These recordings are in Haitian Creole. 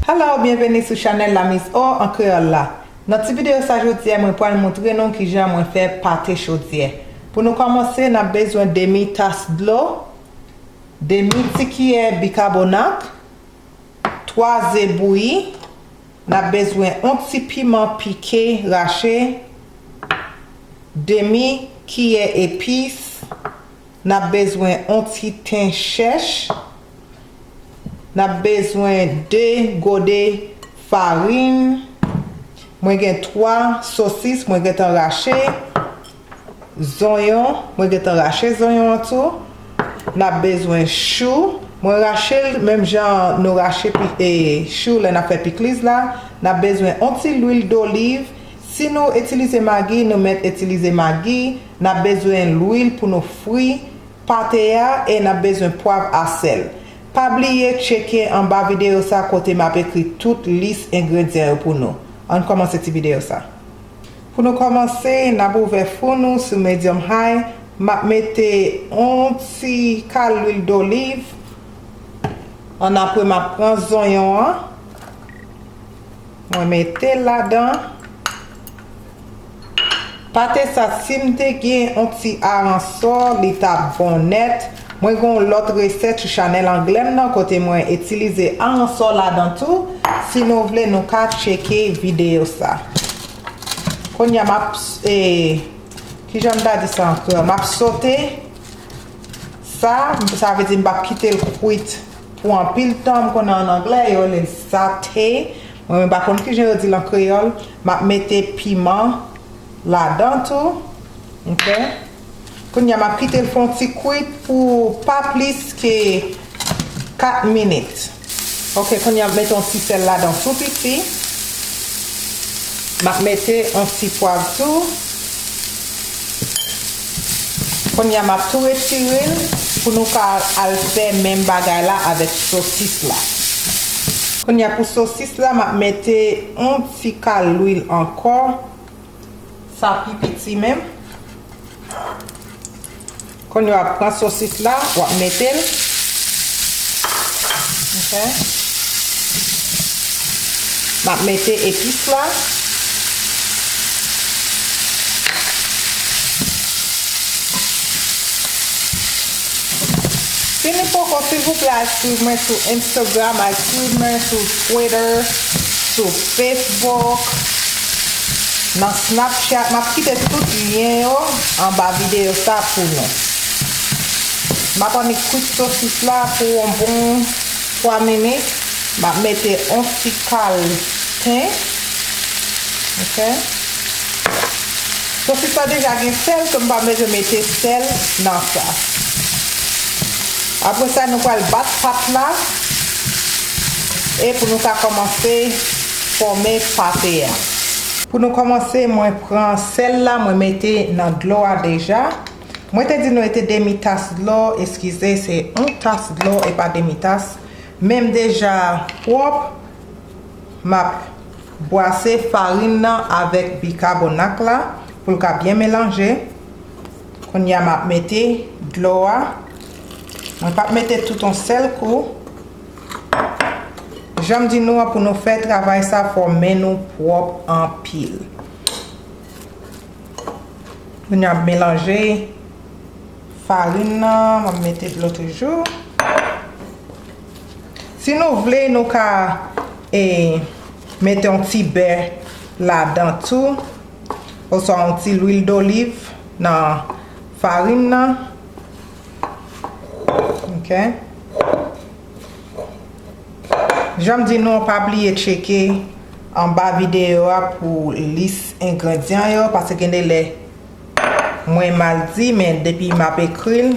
Hello byenveni sou chanèl la Miss O an kreyòl la Nan ti videyo sa jodyè mwen pral moutre nou kijan mwen fè pate chodyè Pou nou kòmanse nap bezwen demi tas dlo demi ti kiyè bikabonat 3 ze bouyi Nap bezwen on ti piman pike rache, demi kiyè epis, nap bezwen on ti ten chèch, nap bezwen 2 gode farin, mwen gen 3 sosis mwen gentan rache. Zonyon, mwen gentan rache zonyon an tou. N ap bezwen chou. Mwen rache l menm jan nou rache chou lè n ap fè pikliz la. N ap bezwen on ti lwil doliv. Si nou itilize magi, nou mèt itilize magi. N ap bezwen lwil pou nou fri pate a e n ap bezwen pwav a sèl. Pa bliye tcheke anba videyo sa kote m ap ekri tout lis engredyan yo pou nou. An n kòmanse ti videyo sa. Pou nou kòmanse nap ouvè four nou sou medium high map mete on ti kal lwil doliv an apre map pran zonyon an mwen metel ladan pate sa sim te gen on ti aransò li tap bon nèt. Mwen gen yon lòt resèt sou chanèl anglè m nan kote mwen itilize aransò ladan tou si nou vle nou ka tcheke videyo sa Kounye a m ap kijan m ta di sa ankò m ap sote sa sa vle di m pap kite l kwit pou anpil tan m konnen an anglè yo rele l sate mwen menm pa konn kijan yo di l an kreyòl m ap mete piman ladan tou ok. Kounya map kite l fè yon ti kwit pou pa plis ke 4 minit. Ok kounya map mete yon ti sèl ladan tou piti. Map mete yon ti pwav tou. Kounya map tou retire l pou nou ka al fè menm bagay la avèk sosis la. Kounya pou sosis la map mete yon ti kal lwil ankò. Sa pi piti menm. Kounye wap pran sosis la, wap mete l. Ok. Map mete epis la. Si nou poko silvouplè al swiv mwen sou Instagram, al swiv mwen sou Twitter, sou Facebook. nan snapchat map kite tout lyen yo anba video sa pou nou map annik kwit sosis la pou yon bon 3 minit map mete yon ti kal pen ok sosis la deja gen sèl so mpa bezwen mete sèl nan sa apresa nou pral bat pat la e pou nou ka kòmanse. Fòme pate a. Pou nou kòmanse mwen pran sèl la mwen mete nan dlo a deja. Mwen te di nou e te demi tas dlo, eskize se yon tas dlo e pa demi tas. Men m deja pwòp, m ap bwase farin nan avèk bikabonak la pou l ka byen melanje. Kounya m ap mete dlo a. Mwen pa mete tout yon sèl kou. Janm di nou an pou nou fè travay sa fò men nou pwòp anpil. Kounye a m melanje farin nan, m ap mete dlo toujou. Si nou vle nou ka mete yon ti bè ladan tou oswa yon ti lwil doliv nan farin nan. Ok. Janm di nou pa bliye tcheke anba videyo a pou lis engredyan yo pase gen de lè mwen mal di men depi m ap ekri l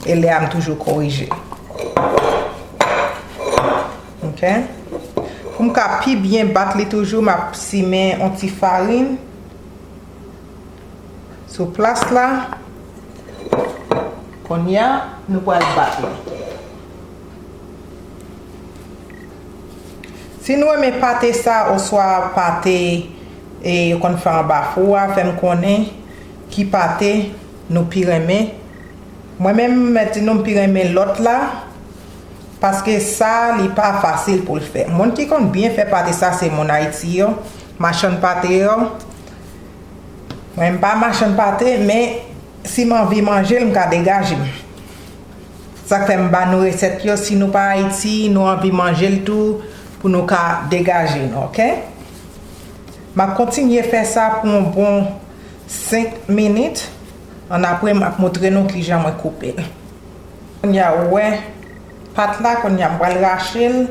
e lè a m toujou korije. Ok. Pou m ka pi byen bat li toujou m ap simen yon ti farin. sou plas la konnya nou pral bat li si nou renmen pate sa oswa pate yo konn fè anba fou a fèm konnen ki pate nou pi renmen mwen menm mwen di nou m pi renmen lòt la paske sa li pa fasil poul fè moun ki konn byen fè pate sa se moun ayiti yo machann pate yo Mwen m pa machann pate men si m anvi manje l m ka degaje m. Sa k fè m ba nou resèt yo si nou pa Ayiti nou anvi manje l tou pou nou ka degaje nou ok. M ap kontinye fè sa pou yon bon 5 minit an apre m ap moutre nou kijan mwen koupe l. Kounye a ou wè pat la kounye a m pral rache l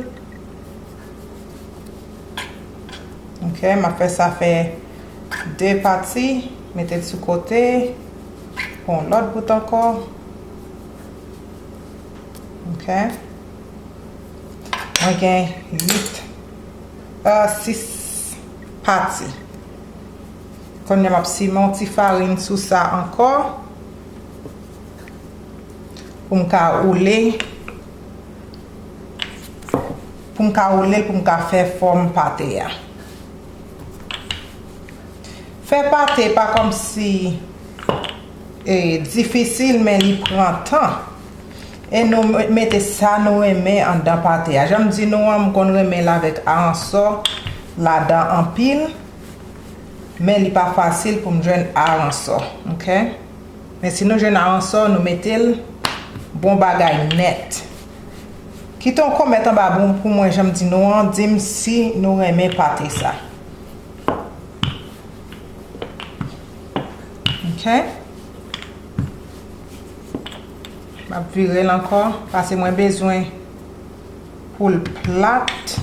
ok m ap fè sa fè. 2 pati mete sou kote pou yon lòt bout ankò ok mwen gen 8 a 6 pati kounye map simen yon ti farin sou sa ankò pou m ka oule pou m ka oule pou m ka fè fòm pate a. Fè pate pa kòmsi difisil men li pran tan. E nou mete sa nou renmen anndan pate a. Janm di nou an m konn renmen l avèk aransò ladan anpil. Men li pa fasil pou m jwenn aransò. Men si nou jwenn aransò nou mete l bon bagay nèt. Kite yon comment anba boum pou mwen janm di nou an dim si nou renmen pate sa ok map virel ankò pase mwen bezwen poul plat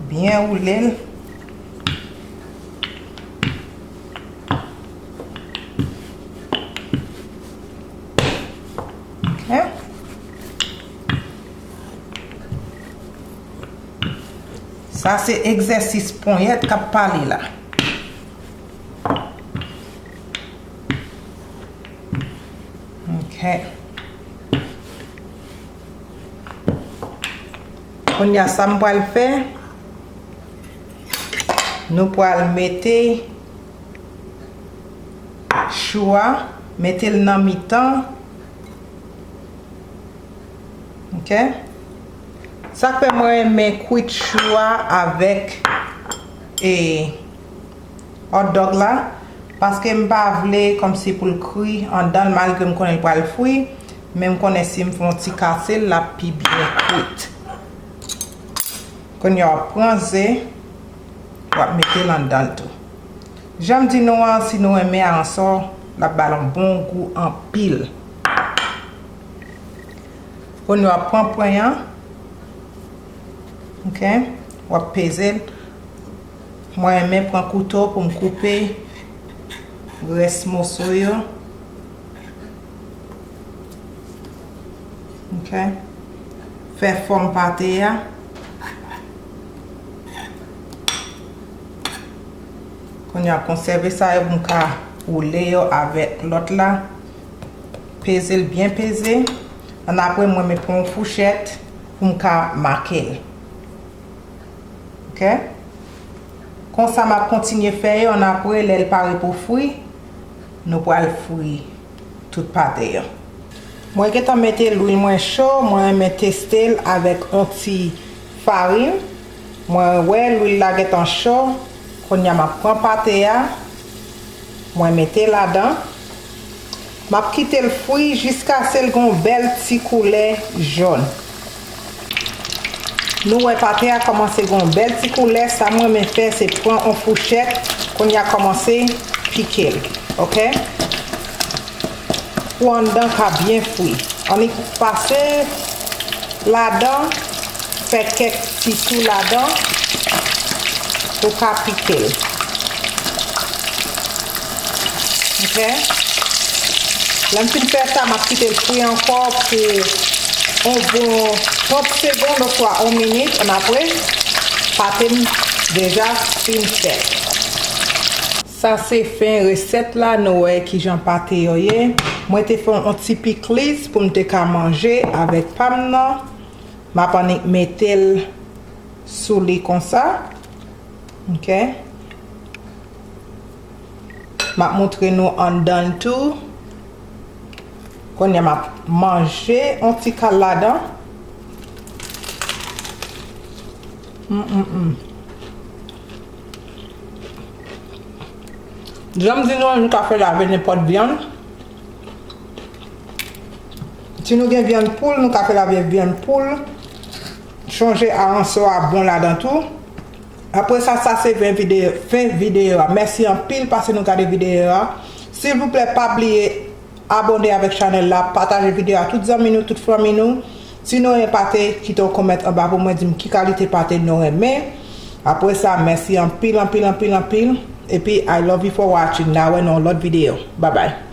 byen woulel. Sa se egzèsis ponyèt kap pale la. Ok. Kounye a sa m pral fè, nou pral mete. ak chou a mete l nan mitan ok sak fè mwen renmen kwit chou a avèk e hotdog la paske m pa vle kòmsi pou l kri andan l malgre m konnen l pral fri men m konnen si m fè yon ti kase l lap pi byen kwit kounye a wap pran ze. wap mete l anndanl tou. Janm di nou an si nou renmen aransò lap bal on bon gou anpil. Kounye wap pran pwen an ok wap peze l mwen renmen pran kouto poum koupe rès moso yo ok fè fòm pate a. Kounye a konsève sa yo pou m ka woule yo avèk lòt la. Peze l byen peze. An apre mwen mwen pran yon fouchèt pou m ka make l. Ok. Konsa m ap kontinye fè yo an apre lè l pare pou fri, nou pral fri. tout pate an. Mwen gentan mete lwil mwen cho mwen renmen testel avèk on ti farin mwen wè lwil la gentan cho kounya map pran pate a mwen mete ladan map kitel fri jiskasel gon bèl ti koulè jòn. Nou wè pate a kòmanse gen yon bèl ti koulè sa m renmen fè se pran yon fouchèt kounya kòmanse pike l ok pou anndan ka byen fri annik pase ladan fè kèk ti tou ladan pou ka pike l. Ok Lè m fin fè sa m ap kite l fri ankò pou on bon 30 segond oswa on minit annapre pate m deja fin fèt. Sa se fen resèt la nou wè kijan pate yo ye. Mwen te fè on ti pikliz pou m te ka manje avèk pa m nan. M ap annik mete l sou li konsa. Ok. Map moutre nou anndanl tou. Kounye a map manje yon ti kal ladan. Mmmm. Janm di nou an nou ka fè lave nenpòt vyann. Si nou gen vyann poul nou ka fè lave vyann poul. Chonje aranso a bon ladan tou. Apre sa sa se ven video fen video a mèsi anpil pase nou gade video a silvouplè pa bliye abòne avèk chanèl la pataje video a tout zanmi nou tout fanmi nou si nou renmen pate kite yon comment anba pou mwen dim ki kalite pate nou renmen apre sa mèsi anpil anpil anpil anpil epi I love you for watching na wè nan yon lòt video babay.